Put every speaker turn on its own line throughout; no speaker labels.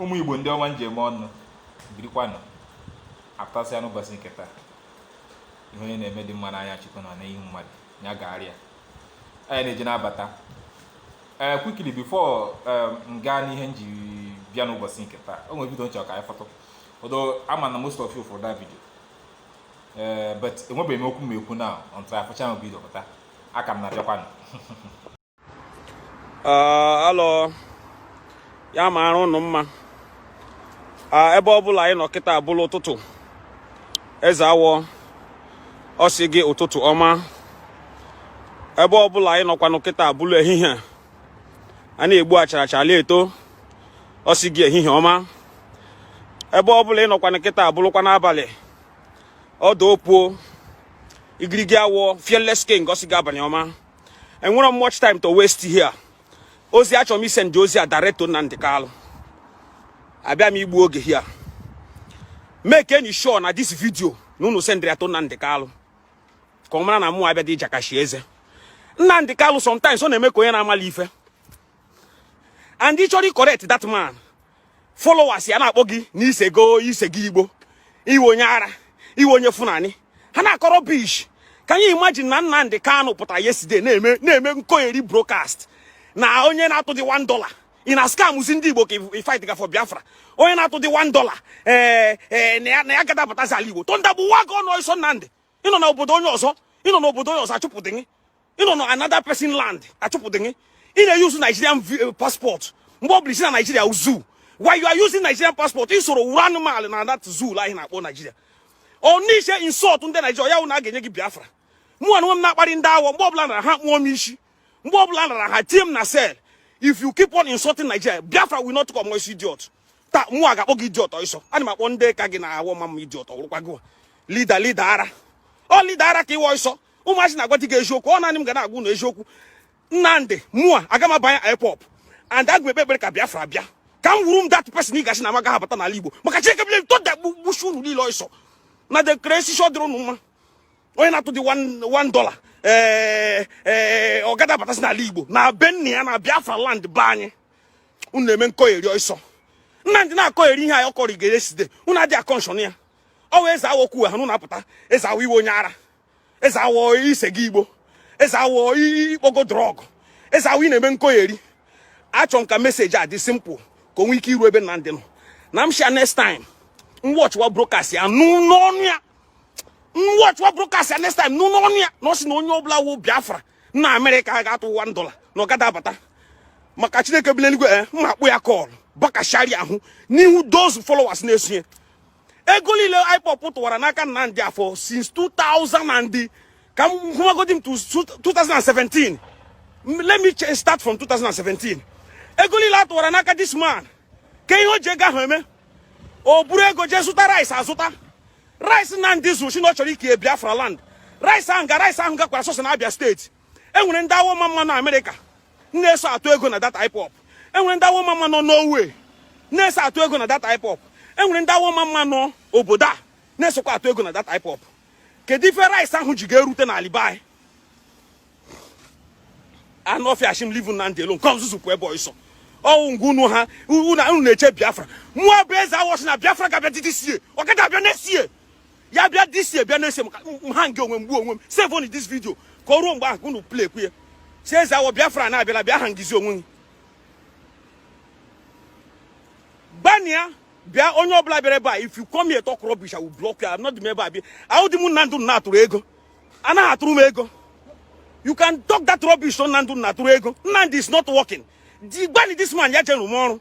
ụmụ igbo ndị ọma m ji eme ọnụ birikwanụ apụtasịa n'ụbọchị nke taa ihe onye na-eme dị mma n'anya chukwu na n'ihu mmadụ ya gagharịa anyị na-eji na-abata ee eh, quickly before eh, m gaa n'ihe m ji bịa n'ụbọchị nke taa o nwere video m chọ ka anyị fụtụ although ama m na most of you fụrụ that video ee eh, but enwebeghị m okwu m ekwu na until afụcha m video pụta a ka m na-abịakwanụ
alọ ya maara ụnụ mma ebe ọ bụla ị nọ kịta abụla ụtụtụ eze awọ ọ sị gị ụtụtụ ọma ebe ọ bụla ị nọkwanụ kịta abụla ehihie a na-egbu achara achara eto ọ sị gị ehihie ọma ebe ọ bụla ị nọkwanụ kịta abụlakwa n'abalị ọdụ opuo igirigi awọ fearless king ọ sị gị abalị ọma enwerọ m much time to waste here ozi a achọrọ m isend ozi a direct to Nnamdi Kanu abịa m igbu oge here make nụ sure na this video na unu send ya to Nnamdi Kanu ka ọ mara na mụwa abịa dị ịjakashi eze Nnamdi Kanu sometimes ọ na-eme ka onye na-amarọ ife and ị chọrọ correct that man followers ya na-akpọ gị na ị sego ị sego igbo ị wụ onye ara ị wụ onye fulani ha na-akọ rubbish can you imagine na Nnamdi Kanu pụtara yesterday na-eme na-eme nkọgheri broadcast na onye na-atụ dị 1 dollar ị na-scamzi ndị igbo ka ị fight ga for biafra onye na-atụ dị 1 dollar ee eh, ee eh, na ya gadị abatazi ala igbo thunder gbuwaa gị ọnụ ọsọ Nnamdi ị nọ na obodo onye ọzọ ị nọ na obodo onye ọzọ achụpụdị gị ị nọ na another person land achụpụdị gị ị na-use Nigerian eh, passport mgbe ọ bụla ị sị na Nigeria zoo why you are using Nigerian passport ị soro wuru anụmanụ na that zoo ahụ ị na-akpọ Nigeria ọ n'iche insult ndị Nigeria ya wụ na a ga-enye gị Biafra mụ onwe m na-akparị ndị awọ mgbe ọbụla na ha kpụọ m isi mgbe ọbụla na ha tie m na cell if you keep on insulting Nigeria Biafra will not come ọsọ idiot taa mụwa ga-akpọ gị idiot ọsọ ana m akpọ ndị ka gị na awo-omamma idiot ọ wụrụkwa gị leader leader ara ọ leader ara ka ị wụ ọsọ ụmụazị na-agwa di gị eziokwu ọ naanị m ga na-agwa ụnụ eziokwu Nnamdi mụwa aga m abanye ipob and aga m ekpe ekpere ka biafra bịa ka m wuru m that person ị ga-asị na amaga abata n'ala igbo maka chineke bile thunder gbusi unu niile ọsọ una dey craze ọ dịrị ụnụ mma onye na-atụ dị one dollar ee eh, ee eh, ọ gadị abatazi n'ala igbo na be nna ya na biafra land be anyị unu na-eme nkọgheri ọsọ Nnamdi na-akọgheri ihe anyị ọ kọrọ igere side unu adị a-caution ya ọ wee eze awọ kwuo ha nụ na-apụta eze awọ ị wụ onye ara eze awọ i sego igbo eze awọ ị kpọgo drug eze awọ ị na-eme nkogheri achọ m ka message a dị simple ka o nwee ike iru ebe Nnamdi nọ na m shị ya next time m watchwa broadcast ya nụ n'ọnụ ya m watchwa broadcast ya next time nụ n'ọnụ ya na ọ sị na onye ọbụla wụ Biafra na Amerịka a ga-atụ one dollar na ọ gada abata maka Chineke bi n'eluigwe eh, mma akpụ ya kọl bakashari ahụ n'ihu those followers na-esonye ego niile IPOB tụwara n'aka Nnamdi afọ since 2000 and ka m hụmagodi m 2017 let me start from 2017 ego niile a tụwara n'aka this man kee ihe o ji ego ahụ eme o buru ego jee zụta rice azụta rice Nnamdi zụrụ sị na ọ chọrọ ike Biafra land rice ahụ ga rice ahụ gakwara sọsọ na Abia State e nwere ndị awọmamma nọ amerịka na-eso atụ ego na that IPOB e nwere ndị awọmamma nọ Norway na-eso atụ ego na that IPOB e nwere ndị awọmamma nọ obodo a na-esokwa atụ ego na that IPOB kedu ife rice ahụ ji ga-erute na ala be anyị anụ ọfịa a shị m leave Nnamdi alone come on zuzupụ ebe ọsọ ọ wụ ngwa unu ha unu na-eche biafra mụọ bụ eze awọ sị na biafra ga-abịa this year ọ gaghị abịa next year ya bịa this year bịa next year ka m hang onwe m gbuo onwe m save nụ this video ka o ruo mgbe ahụ ka unu play kwu ya sị eze awọ biafra na-abịala bịa hangzie onwe gị gbania bịa onye ọbụla bịara ebe a if you come here talk rubbish I will block you I'm not the member abi awụdị m Nnamdi a na-atụrụ ego anaghị atụrụ m ego you can talk that rubbish on Nnamdi a na-atụrụ ego Nnamdi is not working di gbani this man ya jere m ọrụ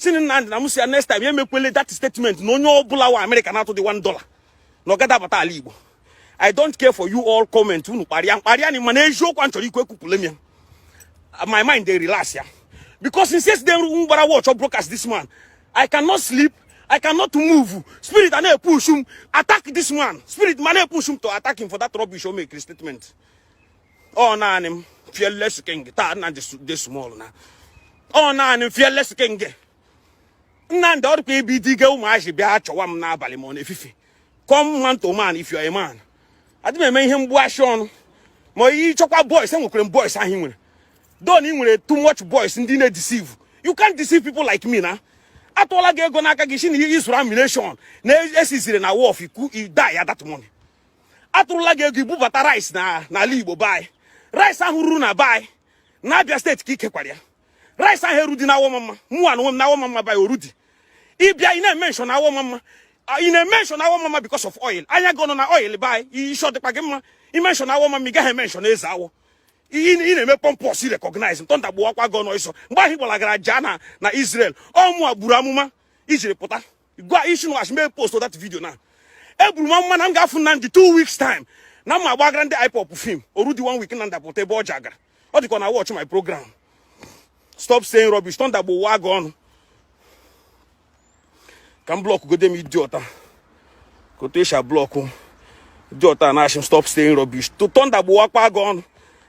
sị nụ Nnamdi na m sị ya next time ya emekwele that statement na onye ọbụla wa Amerịka na-atụdị one dollar na ọ gada abata ala Igbo I don't care for you all comment unu kparịa m kparịa na mana eziokwu m chọrọ ikwu ekwupụla m ya my mind dey relax ya because since yesterday m gbara watch ọ broadcast this man I cannot sleep I cannot move spirit a na-epush m attack this man spirit m na-epush m to attack him for that rubbish o make statement ọ naanị m fearless king taa na de small na ọ naanị m fearless king Nnamdi ọ dịkwa ibi di ge ụmụazị bịa chọwa m n'abalị ma ọ n'efifie come man to man if you are a man adị m eme ihe mgbuashi ọnụ ma ihe ịchọkwa boys enwekwere m boys ahụ nwere don ị nwere too much boys ndị na-edeceive you can't deceive people like me na a tụọla gị ego n'aka gị sị na ihe ịzụrụ ammunition na e seizere na wharf ikwu die ya that money atụrụla gị ego ibubata rice n'ala Igbo be anyị rice ahụ ruru na be anyị na Abia State ka i kekwara ya rice ahụ erudi na awọmamma mụwa na onwe m na awọmamma be anyị o rudi ị bịa ị na-emention awọmamma ị na-emention awọmamma because of oil anya gị nọ na oil be anyị ishi ọ dịkwa gị mma i mention awọmamma ị gaghị emention eze awọ ị na-eme pompous recognize thunder gbawakwa gị ọnụ ọsọ mgbe ahụ ị gbalagara jaa nọ na Israel ọ mụwa buru amụma i jiri pụta gwa ishinwash mee post that video na eburu m amụma na m ga-afụ Nnamdi two weeks time na mma gbagara ndị IPOB film o rudi one week Nnamdi apụta ebe ọ ji agara ọ dịkwa na watch my program stop saying rubbish thunder gbuwaa gị ọnụ ka m blọkụ godi m idiot a ka otu e si ablọkụ idiot a na-ashị m stop saying rubbish thunder gbuwaakwa gị ọnụ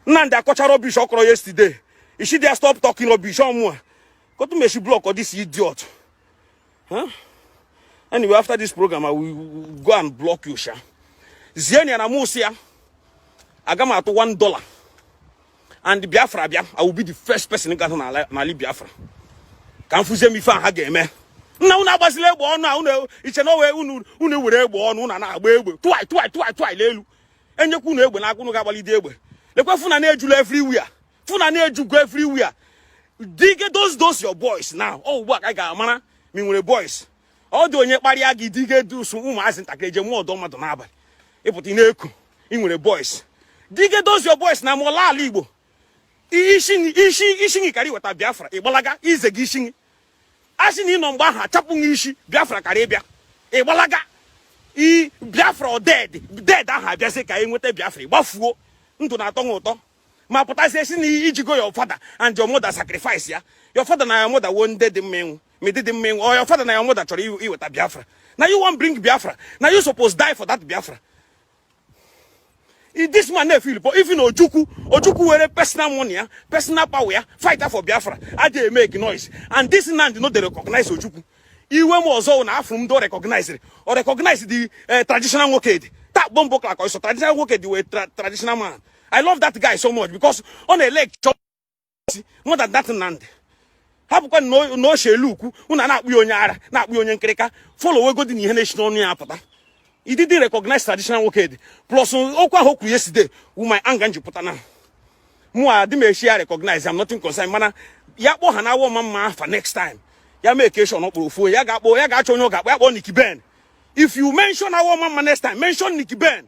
Nnamdi akọcha rubbish ọ kọrọ yesterday isi dị ya stop talking rubbish ọmụa ka otu m eshi blọkụ this idiot Huh? Anyway, after this program, I will go and block you, Sha. Zienụ ya na m sị ya aga m atụ one dollar. And Biafra bịa, I will be the first person ga-ana n'ali Biafra. Ka m fụzie ife ha ga-eme. Nna unu agbazila egbe ọnụ a unu eche na ọ wụ unu unu were egbe ọnụ unu na-agba egbe tụai tụai tụai tụai n'elu enyekwa unu egbe n'aka unu ga-agbalidi egbe lekwa Fulani ejula everywhere Fulani ejugo everywhere dige those those your boys now ọ ugbu a ka anyị ga-amara ma ị nwere boys ọ dị onye kparịa gị dige those ụmụazị ntakịrị eje mụọ ọdọ mmadụ n'abalị ị pụta ị na-ekwu ị nwere boys dige those your boys na mụọla ala igbo ishi gị ishi ishi gị karị iweta biafra ị gbalaga ize gị ishi gị a sị na ị nọ mgbe ahụ achapụ gị isi biafra karị ịbịa ị gbalaga i biafra ọ dead dead ahụ abịazi ka anyị nweta biafra ị gbafuo ndụ na-atọ ha ụtọ ma pụtazie sị na i jigo your father and your mother sacrifice ya your father na your mother wụ ndị dị mma ịnwụ ma ị dịdị mma ịnwụ ọ your father na your mother chọrọ iweta biafra na you wan bring biafra na you suppose die for that biafra this man na-efil po even ojukwu ojukwu were personal money ya personal power ya fighter for biafra aja make noise and this man no dey recognize ojukwu iwe m ọzọ na afụ m ndị ọ recognizere ọ recognize the eh, traditional Nwokedi that bomboclat also traditional Nwokedi wụ traditional man I love that guy so much because ọ na-electure more than that Nnamdi hapụkwa na ochie elu ukwu unu ana-akpọ ya onye ara na-akpọ ya onye nkịrịka folowegodi nụ ihe na-esi n'ọnụ ya apụta he didn't recognize traditional Nwokedi plus okwu ahụ o kwu yesterday wụ my anger m ji pụta na mụa adị m eche ya recognize am nothing concern mana ya kpọ ha n'Awọ Ọmamma afa next time ya make sure na ọ kpọrọ ofu ya ga-akpọ ya ga-achọ onye ọ ga-akpọ ya kpọọ Nicky Ben if you mention Awọ Ọmamma next time mention Nicky Ben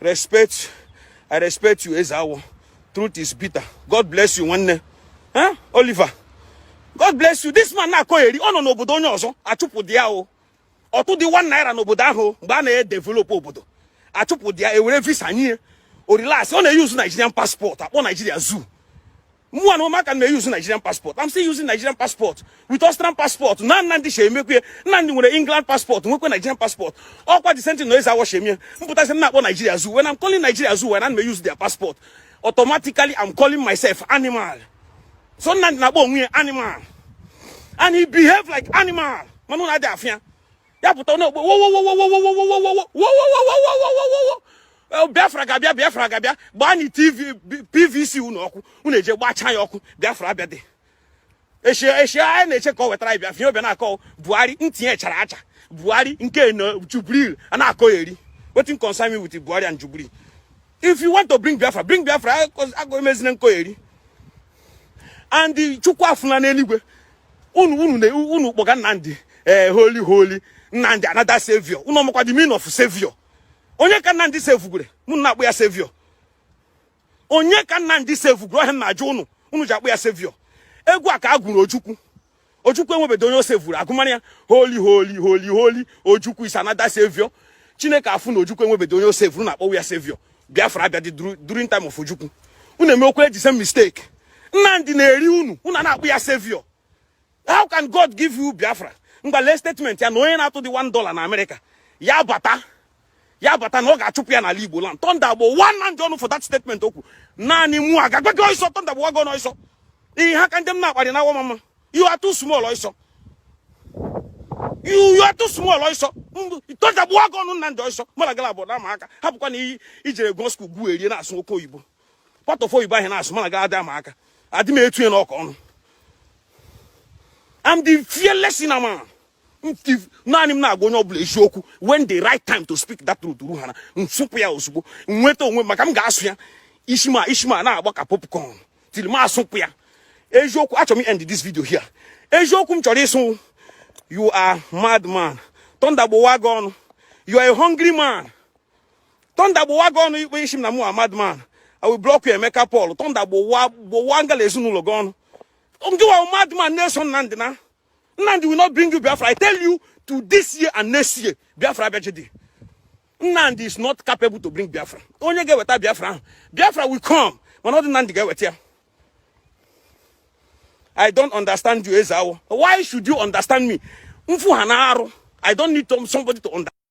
respect i respect you eze awọ truth is bitter god bless you nwanne eh oliver god bless you this man na-akọheri ọ nọ n'obodo onye ọzọ achụpụdị ya o ọ tụdị one naira n'obodo ahụ mgbe a na-edevelop obodo achụpụdị ya e were visa nye ya ọ relax ọ na-eyuzu nigerian passport akpọ nigeria zoo Mu and Oma can use Nigerian passport. I'm still using Nigerian passport with Austrian passport. Nan nan dishe mekwe. Nan nwere England passport. Nwekwe Nigerian passport. Okwa the same thing noise awo shemye. Mputa se nakwa Nigeria zoo. When I'm calling Nigeria zoo, when I may use their passport, automatically I'm calling myself animal. So nan nakwa onwe animal. And he behave like animal. Manu na de afia. ya pụta na-egbu biafra ga-abịa biafra ga-abịa gbaanị tv pvc unu ọkụ unu eje gbachaa ya ọkụ biafra abịadị eshie eshie anyị na-eche ka ọ wetara anyị biafra ihe ọ bịa na-akọ buhari ntị ya chara acha buhari nke na jubril a na-akọyeri wetin concern me with buhari and jubril if you want to bring biafra bring biafra agụ emezina nkọyeri and chukwu afụ na n'eluigwe unu unu unu kpọga Nnamdi ee eh, holy holy Nnamdi another savior unu ọ makwa the meaning of savior onye ka Nnamdi sevugwere unu na-akpọ ya savior onye ka Nnamdi sevugwere ọ ihe m na-ajụ unu unu ji akpọ ya savior egwu a ka a gwụrụ Ojukwu Ojukwu enwebedo onye o sevuru a gụmara ya holy holy holy holy Ojukwu is another savior Chineke afụ na Ojukwu enwebedo onye o sevuru unu akpọwa ya savior Biafra abịadị during time of Ojukwu unu emekwala the same mistake Nnamdi na-eri unu unu a na-akpọ ya savior how can God give you Biafra ngwa lee statement ya na onye na-atụdị 1 dollar na Amerịka ya bata ya bata na ọ ga-achụpụ ya n'ala Igbo land thunder gbowa Nnamdi ọnụ for that statement o kwu naanị mụ a ga-agwa gị ọsọ thunder gbowa gị ọnụ ọsọ ị ha ka ndị m na-akparị na wamama you are too small ọsọ you you are too small ọsọ thunder gbowa gị ọnụ Nnamdi ọsọ mara gara abụọ na-ama aka hapụkwa na i jere gụọ school gwuo erie na-asụ oke oyibo part of oyibo ahụ na-asụ mara gara adị ama aka adị m etu ya n'ọkọ ọnụ I'm the fearless in a man. naanị m na-agwa onye ọbụla eziokwu when the right time to speak that truth ruhara m sụpụ ya ozugbo nweta onwe maka m ga-asụ ya ishi m a ishi m a na-agba ka popcorn till m asụpụ ya eziokwu achọrọ m end this video here eziokwu m chọrọ ịsụ you are mad man thunder gbowa gị ọnụ you are a hungry man thunder gbowa gị ọnụ ikpe ị sị m na mụ a mad man I will block you Emeka Paul thunder gbowa gbowa ngị la ezinụlọ gị ọnụ ngịwa mad man na-eso Nnamdị na Nnamdi will not bring you Biafra. I tell you to this year and next year, Biafra abịadị. Nnamdi is not capable to bring Biafra. Onye ga-eweta Biafra Biafra will come. Mana ọ dị Nnamdi ga-eweta ya. I don't understand you, Ezawo. Why should you understand me? Mfu ha na-arụ. I don't need somebody to understand.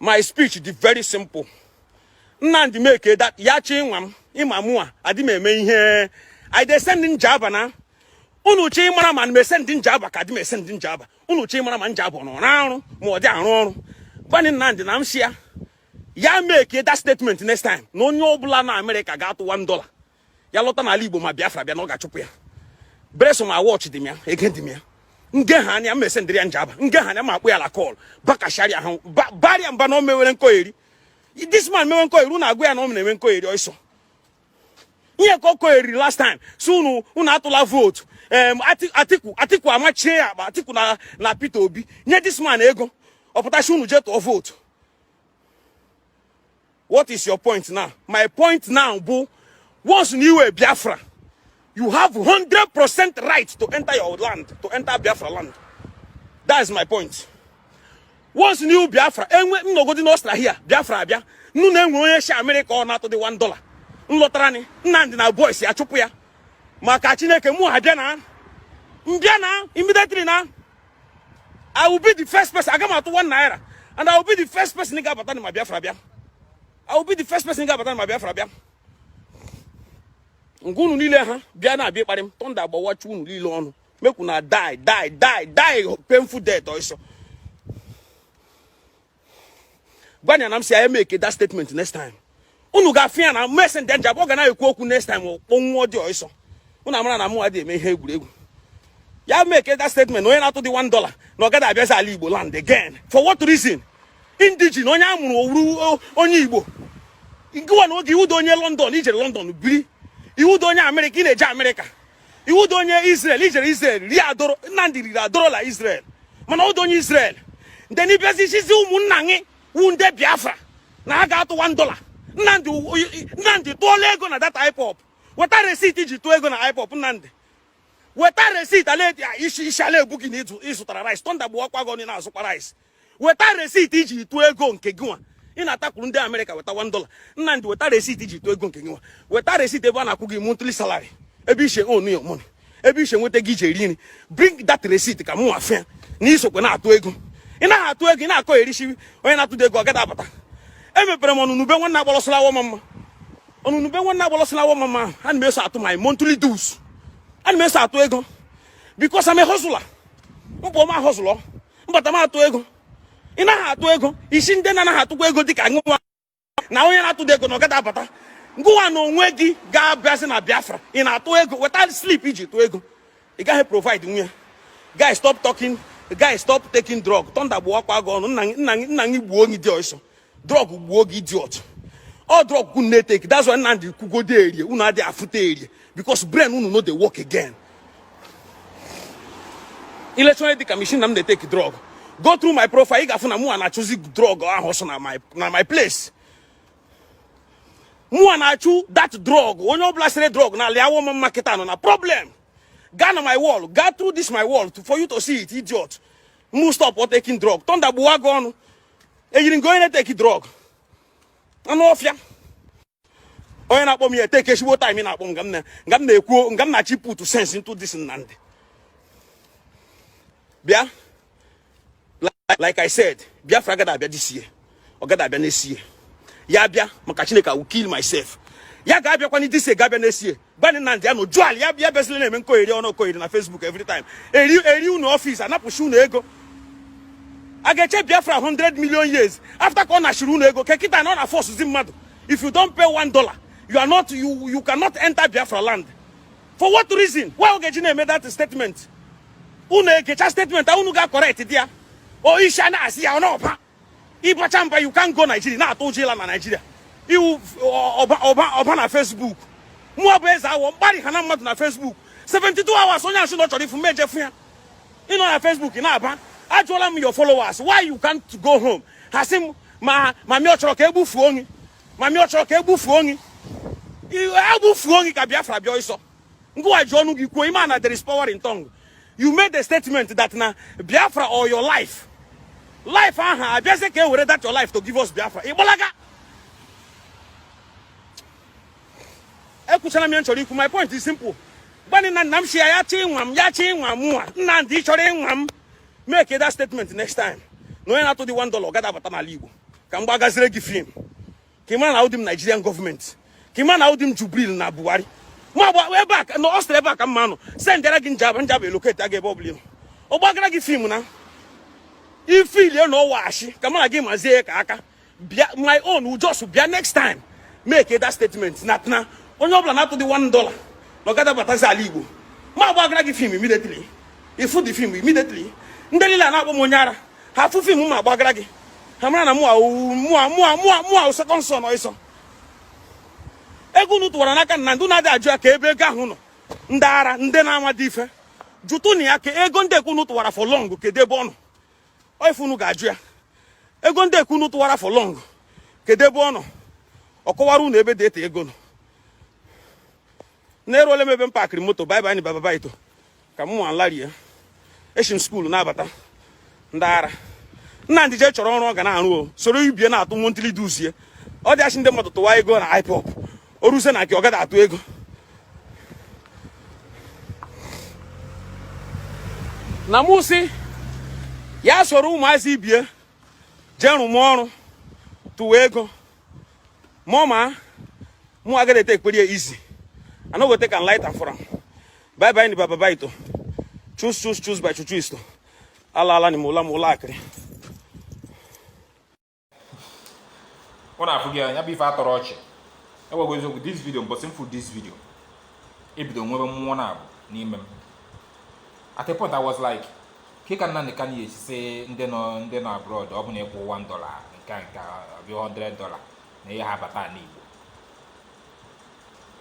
my speech dị very simple nnamdị make that ya chi nwa m ị ma mụa adị m eme ihe i dey send njaba na unu chee mara ma m esend njaba ka adị m esend njaba unu chee mara ma njaba ọ na-arụ ma ọ dị arụ ọrụ gwanị nnamdị na m si ya ya make that statement next time na onye ọbụla na amerịka ga-atụ 1 dollar ya lọta n'ala igbo ma biafra bịa na ọ ga-achụpụ ya bereso ma watch dị m ya ege dị m ya nge ha anya mmese ndịrị ya njaba nge ha anya ma akpụ ya la call bakasharịa ha barịa mba na o mewere nkoyeri this man mewe nkoyeri unu agwa ya na ọ na-enwe nkoyeri ọsọ ihe ka ọ kọyeriri last time si unu unu atụla vootu em atiku atiku amachie ya akpa atiku na na peter obi nye this man ego ọ pụta si unu jee tụọ vootu what is your point now my point now bụ once na iwu biafra you have 100% right to enter your land to enter biafra land that is my point once na iwu biafra enwe nnọgodi n'australia biafra abịa m nụ na e nwe onye shi amerịka ọ na-atụ dị 1 dollar nlọtara ni nnamdị na boys ya chụpụ ya maka chineke mụ ha bịa na mbịa na immediately na I will be the first person. Aga m atụ one naira. And I will be the first person ị ga-abata ma Biafra bịa. I will be the first person ị ga-abata ma Biafra bịa. Nke unu niile ha bịa na-abịa ịkparị m. Thunder agbawachi unu niile ọnụ. Make una die, die, die, die painful death ọsọ. gwa ya na m si ya make that statement next time unu ga-afụ ya na messenger nja ọ ga na-ekwu okwu next time kpọnwụọ dị ọsọ unu amara na mụ adị eme ihe egwuregwu ya make that statement onye na-atụ dị one dollar na ọ gaghị abịazi ala igbo land again for what reason indigene onye a mụrụ owuru onye igbo gịwa na onwe gị iwudo onye london i jere london biri iwudo onye amerịka ị na-eje amerịka iwudo onye Israel i jere Israel rie adoro Nnamdi riri adorola Israel mana o wudo onye Israel then ị bịazi sizi ụmụnna gị wu ndị Biafra na ha ga-atụ 1 dollar Nnamdi tụọla ego na that IPOB weta receipt iji tụọ ego na IPOB Nnamdi weta receipt ala isi ala egbu gị na ịzụtara rice thunder gbuwakwa gị ọnụ ị na-azụkwa rice weta receipt iji tụọ ego nke gị nwa ị na-atakwuru ndị amerịka weta one dollar nnamdị weta receipt iji tụọ ego nke gị nwa weta receipt ebe a na-akwụ gị monthly salary ebe ishe own your money ebe ishi enweta ego iji eri nri bring that receipt ka mụ nwa fụ ya na isokwa na-atụ ego ị naghị atụ ego ị na-akọyerisi onye na-atụdo ego ọ gada abata emepere m ọnụrụ ube nwanne agbala ọsọ la awo omamma ọnụrụ ube nwanne agbala ọsọ la awo omamma ana m eso atụ my monthly dues ana m eso atụ ego because I'm a hustler m pụọ m a-hustle m bata m atụ ego ị naghị atụ ego i si ndị na-anaghị atụkwa ego dịka ngụwa na onye na-atụda ego na ọ gada abata ngụwa na onwe gị ga-abịazi na biafra ị na-atụ ego weta slip iji tụọ ego ị gaghị provide nwu ya guy stop talking guy stop taking drug thunder gbuwakwa gị ọnụ nna gị gbuo gị dị ọsọ drug gbuo gị idiot ọ drug unu na-eteki that's why Nnamdi kwugodi erie unu adịghị afụta erie because brain unu no dey work again ilechere dịka machine na m na-eteki drug go through my profile ị ga-afụ na mụ a na-achụzi drug ahụ ọsọ na my na my place mụ a na-achụ that drug onye ọbụla sere drug na alị Awọmama kịta nọ na problem gaa na my wall gaa through this my wall to, for you to see it idiot mụ stop taking drug thunder gbuwa gị ọnụ i yiri nke onye na-eteki drug anụ ọfịa onye na-akpọ m ya eteke ezigbo time ị na-akpọ m nga m na-ekwu nga m na-achọ iput sense into this Nnamdi bịa like I said Biafra gada abịa this year ọ gada abịa next year ya bịa maka Chineke I will kill myself ya ga-abịakwanị this year ga-abịa next year Gwanị Nnamdi ya nọjụ ala ya bịa bịazila na-eme nkogheri ọ na-ekogheri na Facebook every time eri eri unu ọfis anapụchi unu ego a ga-eche Biafra 100 million years after ka ọ nachiri unu ego kekịta na ọ na-forcezi mmadụ if you don't pay one dollar you are not you you cannot enter Biafra land for what reason why ọ ga-eji na-eme that statement unu egecha statement a unu ga correct di ya o isi a na-asị ya ọ na-ọpa ị bacha mba you can't go Nigeria na-atụ ụjọ ịla na Nigeria ị wụ ọba na Facebook mụwa bụ eze Awọ m kparịhana mmadụ na Facebook 72 hours onye a sị na ọ chọrọ ịfụ m m eje fụ ya ị nọ na Facebook na-aba ajụọla m your followers why you can't go home ha sị m ma ma mi ọ chọrọ ka egbufuo onye ma mi ọ chọrọ ka egbufuo onye egbufuo onye ka Biafra bịa ọsọ gịnwa ji ọnụ gị kwuo ị ma na there is power in tongue you made a statement that na Biafra or your life life ahụ abịazi ka e were that your life to give us Biafra ị gbalaga ekwuchara m ihe m chọrọ ikwu my point is simple gwanị Nnamdi sị ya ya chọọ ịnwa m ya chọọ ịnwa mụnwa Nnamdi ị chọrọ ịnwa m make that statement next time na onye na-atụdị one dollar ọ gada abata n'ala Igbo ka m gbagazire gị film ka ị mara na awụdị m Nigerian government ka ị mara na awụdị m Jubril na Buhari ma agba ebe a na Austria ebe a ka mụa nọ sendịara gị Njaba Njaba eloketịa gị ebe ọ bụla ọ gbagara gị film na ifilie na ọwaghachi ka mara gị mazie ya ka aka bịa my own will just bịa next time make that statement na na onye ọbụla na-atụdị one dollar na ọ gada abatazi ala Igbo m agbagara gị film immediately ị fụ the film immediately ndị niile a na-akpọ m onye ara ha afụ film m gbagara gị ha mara na mụa mụa mụa mụa mụa second son ịsọ ego unu tụwara n'aka Nnamdi unu adị ajụ ya kee ebe ego ahụ nọ ndị ara ndị na-amadị ife jụtụnụ ya kee ego ndị ekwu unu tụwara for long kedu ebe ọ nọ ife unu ga-ajụ ya ego ndị ekwu unu tụwara for long kedu ebe ọ nọ ọ kọwara unu ebe that ego nọ na eruola m ebe m pakịrị moto bye bye baba baito ka m nwa larie echi m skuulu na-abata ndị ara Nnamdi jee chọrọ ọrụ ọ ga na-arụ o soro ibie na-atụ monthly dues ọ dị asị ndị mmadụ tụwa ego na IPOB o ruzie na nke ọ gada atụ ego na mụ si ya soro ụmụazị ibie jee rụwa ọrụ tụwa ego ma mụ agada etake prayer easy i no go take am light am for am bye bye ni baba bye to choose choose choose by chuchu isto ala ala ni mo la mo la akiri
ọ na-afụ gị anya bụ ife atọrọ ọchị egwagwa eziokwu this video mbọsị m fụ this video ebido nwebe mmụọ naabọ n'ime m at a point i was like Kee ka Nnamdi Kanu ya-esi sị ndị nọ ndị nọ abroad ọ bụ na ị kwụ one dollar nke a nke a ọ bụ 100 dollar na ị yaha abata ala Igbo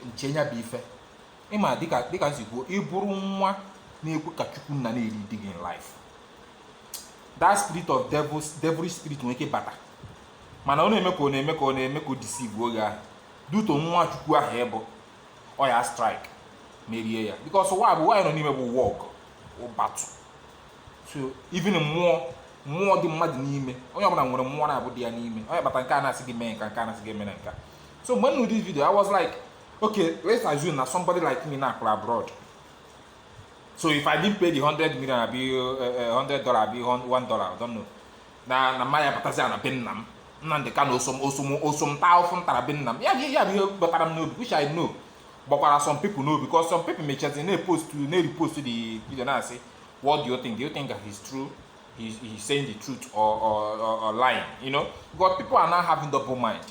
m chee ya bụ ife ịma dịka dịka m si kwuo ị bụrụ nwa na-ekwe ka chukwu nna na-elead gị in life that spirit of devil devilish spirit nwere ike bata mana ọ na-eme ka ọ na-eme ka ọ na-eme ka o deceive gị but nwa chukwu ahụ ị bụ ọ ya strike merie ya because ụwa bụ nwa anyị nọ n'ime bụ world of battle so even mmụọ mmụọ dị mmadụ n'ime onye ọbụla nwere mmụọ naabọ dị ya n'ime ọ ya kpata nke a na-asị gị mee nka nke a na-asị gị emena nka so mgbe m nụ this video i was like okay let's assume na somebody like me na-akpụrụ abroad so if i didn't pay the 100 million abi uh, uh, 100 dollar abi 1 dollar i don't know na na mụ ya-abatazi na be nna m Nnamdi Kanu o so m o so m o so m taa afụfụ m tara be nna m ya ya bụ ihe batara m n'obi which I know batakwara some people n'obi because some people mechazi na-epost na-repost the video na-asị what do you think do you think that he's true he's, he's saying the truth or, or, or, or lying you know because people are now having double mind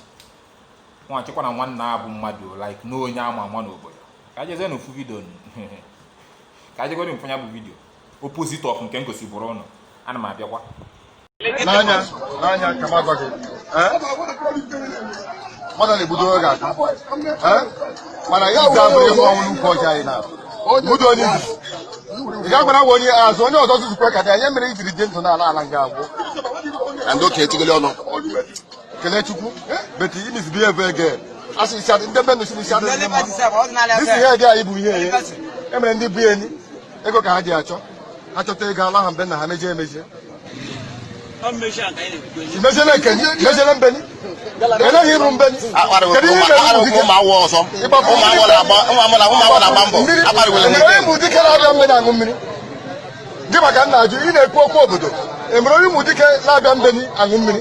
nwa chekwa na nwanne a bụ mmadụ like na onye ama ama n'obodo ka jezie n'ofu video ka jegodi m fụ nya bụ video opposite of nke m gosibụrụ ụnụ ana m abịakwa n'anya n'anya
ka m agwa gị eh? mmadụ na-ebudo oge aka eh? mana ya ji abụrụ ihe ọnwụ n'ukwu ọjị anyị na budo onye izi ị ga-agbara nwa onye azụ onye ọzọ zuzukwe ka dị anya mere ijiri dị ndụ n'ala ala nga agwụ na ndị okenye tigoli ọnụ kelee chukwu beti imizi bi ebe ege asị isi adị ndị be nụ si n'isi adị ndị mma isi ihe dị anyị bụ ihe enye emere ndị bụ enyi ego ka ha ji achọ achọta ego ala ha mbe na ha mejie emejie imejele nke imejele be anyị eleghị ịrụ be anyị kedu ihe mere ụmụ dike emere ụmụ dike na-abịa be anyị aṅụ mmiri gị maka nna ajụ ị na-ekwu okwu obodo emere onye ụmụ dike na-abịa be anyị aṅụ mmiri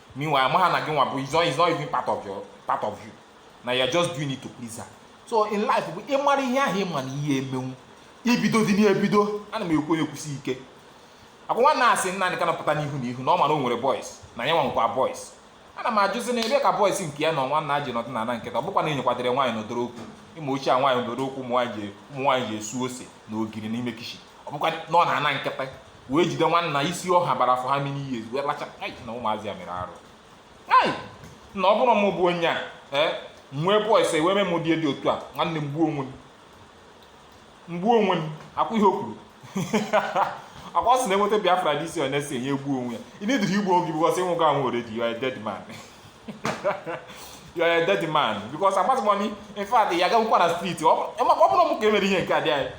meanwhile ma ha na gị nwa bụ is not is not even part of your part of you na you are just doing it to please her so in life bụ ịmara ihe ahụ ịma na ị ya-emenwu ibido dị n'ebido ana m ekwu ya ekwusi ike ọkwa nwanna sị nna anyị ka napụta n'ihu na ihu na ọ mara o nwere boys na ya nwekwa boys ana m ajụzi na ebe ka boys nke ya na nwanna ji nọdụ n'ana nkịtị ọ bụkwa na enyekwadere nwaanyị nọdoro okwu ịma oche a nwaanyị nọdoro okwu ụmụ nwaanyị ji ụmụ nwaanyị ji asụ ose na ogiri n'ime kitchen ọ bụkwa na ọ nọ n'ana nkịtị wee jide nwanna isi ọha bara for how many years wee lacha ai na ụmụazị ya mere arụ ai na ọ bụrụ m bụ onye a ee nwee boys wee mee m ụdị dị otu a nwanne m gbuo onwe m m gbuo onwe m ọkwa ihe o kwuru ọkwa sị na enweta Biafra this year onye sị na ya egbuo onwe ya ị needịrọ igbu onwe gị because ị nwụgo anwụ already you are a dead man you are a dead man because agwazi m ụnụ in fact ya gagwụkwa na street ọ bụrụ m ka emere ihe nke a di anyị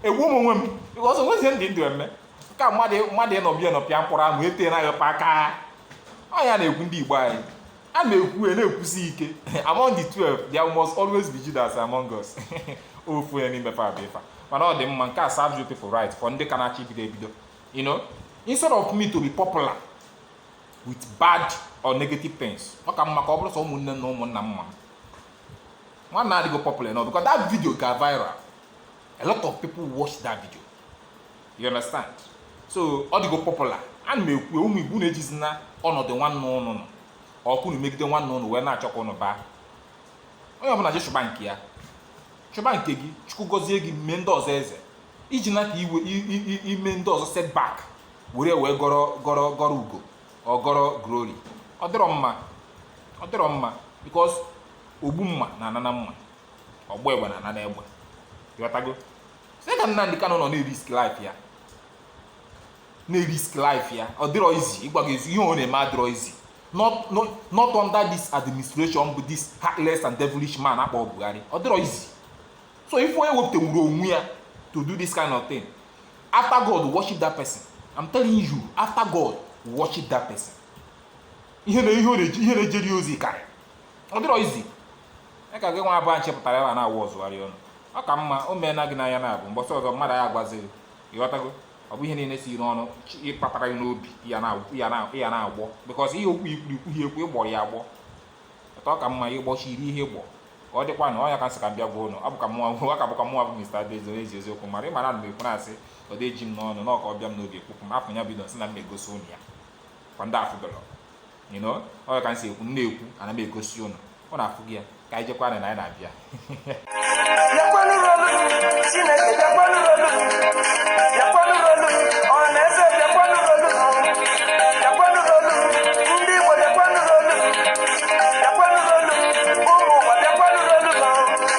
egbuo m onwe m because o nwezi ihe m dị ndụ eme ka mmadụ mmadụ ịnọbi ịnọpịa mkpụrụ ahụ ete na ya aka ọ ya na-ekwu ndị Igbo anyị ana m ekwu ya na-ekwusi ike among the 12 there must always be Judas among us ofu ya n'ime fa bụ ifa mana ọ dị mma nke a serves you people right for ndị ka na-achọ ibido ebido you know instead of me to be popular with bad or negative things ọ ka mma ka ọ bụrụ sọ ụmụnne na ụmụnna ma m nwanna adịgo popular now because that video ga viral a lot of people watch that video you understand so ọ dịgo popular ana m ekwu ụmụ igbo na-ejizi na ọnọdụ nwanne ụnụ nọ or ka ụnụ megide nwanne ụnụ wee na-achọ ka ụnụ baa onye ọbụla jee chụba nke ya chụba nke gị chukwu gọzie gị mee ndị ọzọ eze iji na ka i wee i- i- i- ime ndị ọzọ setback were wee gọrọ gọrọ gọrọ ugo or gọrọ glory ọ dịrọ mma ọ dịrọ mma because ogbu mma na-ana na mma ọgba egbe na-ana n'egbe ịghọtago see ka Nnamdi Kanu nọ na-erisk life ya na-erisk life ya ọ dịrọ easy ihe ọ na-eme adịrọ easy not not not under this administration bụ this heartless and devilish man akpọ Buhari ọ dịrọ easy so if onye wepụtanwuru onwe ya to do this kind of thing after God worship that person I'm telling you after God worship that person ihe na ihe ọ na-eji ihe na-ejeri ozi karị ọ dịrọ easy ya ka gị nwa abụọ nche pụtara ebe a na-awazigharị ọnụ ọ ka mma o mee na gị n'anya na ọ bụ mbọsị ọzọ mmadụ ya agwaziri ịghọtago ọ bụ ihe niile si n'ọnụ chi- ịkpatara gị n'obi ya na- ya na- ya na-agbọ because ihe okwu ikwuru ikwurọ ya ekwu ịgbọrọ ya agbọ etu ọ ka mma ịgbọchi iri ihe gbọ ka ọ dịkwa na ọnya ka nsị ka m bịa gwa ụnụ ọ bụ ka mụnwa bụ ọ ka bụkwa mụnwa bụ Mr. Adaeze onye ezi eziokwu mara ịmara na m ekwu na-asị ọ dị eji m n'ọnụ na ọ ka ọ bịa m n'obi ekwukwu m afọ ya bido nsị na m na-egosi ụnụ ya kwa ndị afụbelọ you know ọ ka m si ekwu m na-ekwu ana m egosi ụnụ ọ na-afụ gị ya ka anyị jekwa na anyị na-abịa